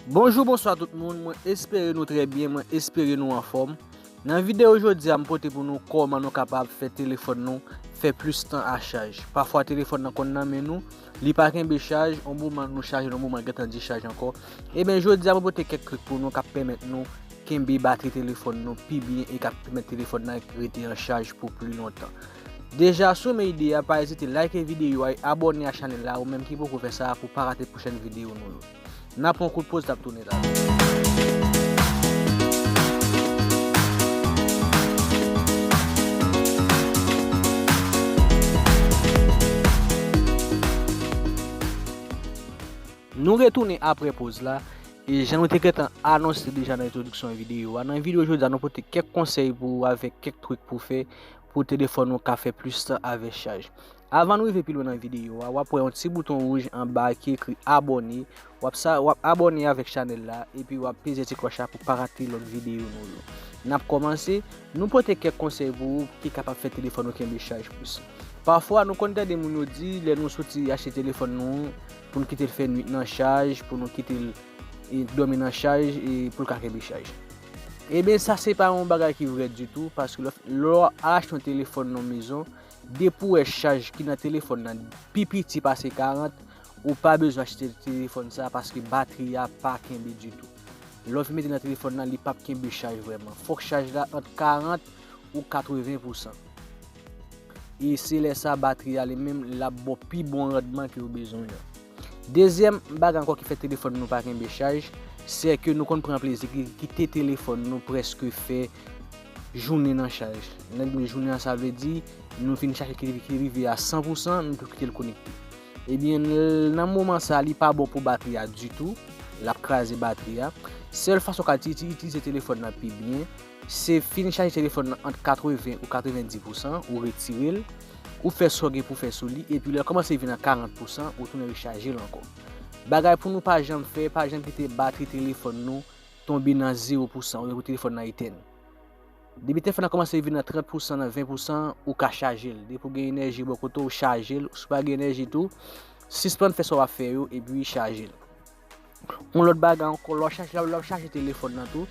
Bonjou bonswa tout moun mwen espere nou trè byen mwen espere nou anfòm nan video jodia m pote pou nou kòman nou kapab fè telefòn nou fè plis tan a chaj pafwa telefòn nan konn nan men nou li pa kenbe chaj yon moman nou chajel yon moman gentan dichaj ankò ebyen jodia mwen pote kèk trik pou nou kap pèmèt nou kenbe batri telefòn nou pi byen e kap pèmèt telefòn nan rete an chaj pou pli lontan deja si w renmen ide a pa ezite like video a e abòne a chanèl la ou menm ki poko fè sa pou pa rate pwochèn video nou yo. N a pran yon kout poz tap tounen la. Nou retounen apre poz la E jan nou te gentan anonse deja nan entwodiksyon videyo a Nan videyo jodi a nou pote kèk konsèy pou ou avèk kèk trik pou fè pou telefòn ou ka fè plis tan avè chaj. Avan nou rive pi lwen nan videyo a, wap wè yon ti bouton wouj anba ki ekri abòne, wap sa wap abòne avèk chanèl la epi wap peze ti klòch la pou pa rate lòt videyo nou yo. Nap kòmanse, nou pote kèk konsèy pou ou ki kapab fè telefòn ou kenbe chaj plis. Pafwa nou konn tande moun yo di lè nou soti achte telefòn nou pou nou kitel fè nwit nan chaj, pou nou kitel dòmi nan chaj e poul ka kenbe chaj. Ebyen sa se pa yon bagay ki vrè ditou paske lè w achte yon telefòn nan mezon, depi w wè chaj ki nan telefòn nan pi piti pase 40, ou pa bezwen achte telefòn sa paske batri a pa kenbe ditou. Lè w fin mete nan telefòn nan li pap kenbe chaj vrèman. Fòk chaj la ant 40 ou 80 pousan. E se lè sa batri a li menm l ap ba w pi bon randman ke w bezwen an. Dezyèm bagay ankò ki fè telefòn nou pa kenbe chaj, sè ke nou konn pran plezi kite telefòn nou prèske fè jounen nan chaj. Lè n di yon jounen an sa vle di nou fin chaje ki rive a 100 pou 100 nou tou kite l konekte. Ebyen nan moman sa li pa bon pou batri a ditou, l ap kraze batri a. Sèl fason w ka itilize telefòn nan pi byen, Se fin chaje telefòn nan ant 80 ou 90 pousan, ou retire l, ou fè sa w gen pou w fè sou li, epi lè l kòmanse vin nan 40 pousan, ou tounen rechaje l ankò. Bagay pou nou pa janm fè, pa janm kite batri telefòn nou tonbe nan zewo pousan oubyen pou telefòn nan etèn. Depi telefòn nan kòmanse vin nan 30 pousan, nan 20 pousan, ou ka chaje l. Depi w gen enèji bò kote w, chaje l. Si w pa gen enèji tou, sispann fè sa w ap fè yo epi chaje l. Yon lòt bagay ankò, lè w ap chaje telefòn nan tou,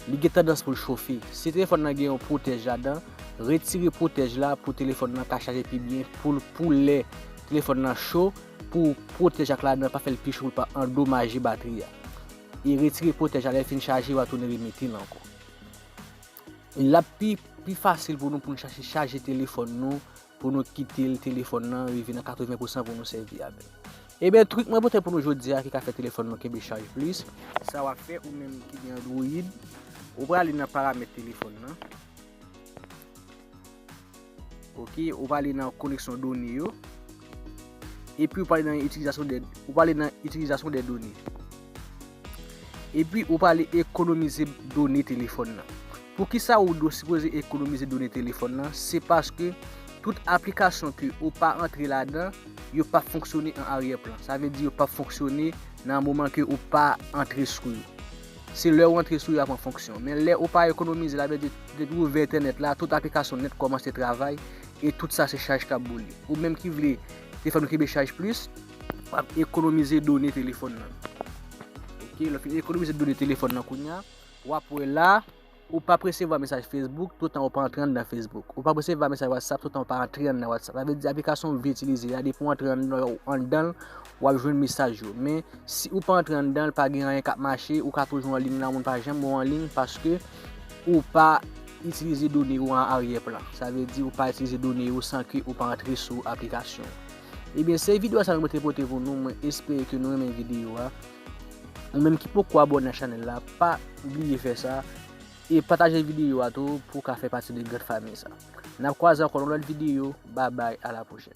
li gen tandans pou l chofe. Si telefòn nan gen yon pwotèj ladan, retire pwotèj la pou telefòn nan ka chaje pi byen, pou lè telefòn nan cho, pou pwotèj ak ladan pa fè l pi cho pou l pa andomaje batri a. E retire pwotèj la lè l fin chaje, w'a tounen remete l ankò. L ap pi fasil pou nou pou n chache chaje telefòn nou Pou nou kitel telefòn nan rive nan 80 pousan pou nou sèvi avèl. Ebyen trik mwen pote pou nou jodia ki ka fè telefòn nou kenbe chaj plis. Sa wap fè ou menm ki gen android, ou prale nan paramèt telefòn nan. Ok, ou prale nan koneksyon done yo. Epi ou prale nan itilizasyon de, ou prale nan itilizasyon de done. Epi ou prale ekonomize done telefòn nan. Poukisa ou do sipoze ekonomize done telefòn lan se paske tout aplikasyon ke ou pa antre ladan yo pap fonksyone an aryè plan sa vle di yo pap fonksyone nan moman ke ou pa antre sou yo se lè ou antre sou yo yap an fonksyon men lè ou pa ekonomize la vle di depi ou vè entènèt la tout aplikasyon nèt kòmanse travay e tout sa se chaj kap boule ou menm ki vle te fè nou kenbe chaj plis wap ekonomize done telefòn lan ok lè ou fin ekonomize done telefòn lan kounya. Wap wè la, Ou pap resevwa mesaj Facebook toutan ou pa antre anndan Facebook. Ou pap resevwa mesaj WhatsApp toutan ou pa antre anndan WhatsApp. Sa vle di aplikasyon ou vle itilize a depi ou antre anndan l wap jwenn mesaj yo. Men si ou pa antre anndan l pa gen anyen kap mache, ou ka toujou anliy la moun pa janm wè w anliy paske ou pa itilize done ou an aryè plan. Sa vle di ou pa itilize done ou san ke ou pa antre sou aplikasyon. Ebyen se videyo sa mwen te pote pou nou, mwen espere ke nou renmen videyo a. Ou menm ki poko abòne ak chanèl la pa bliye fè sa e pataje videyo a tou pou ka fè pati de gran famiy sa. Nap kwaze ankò nan lòt videyo, babay a la pwochèn.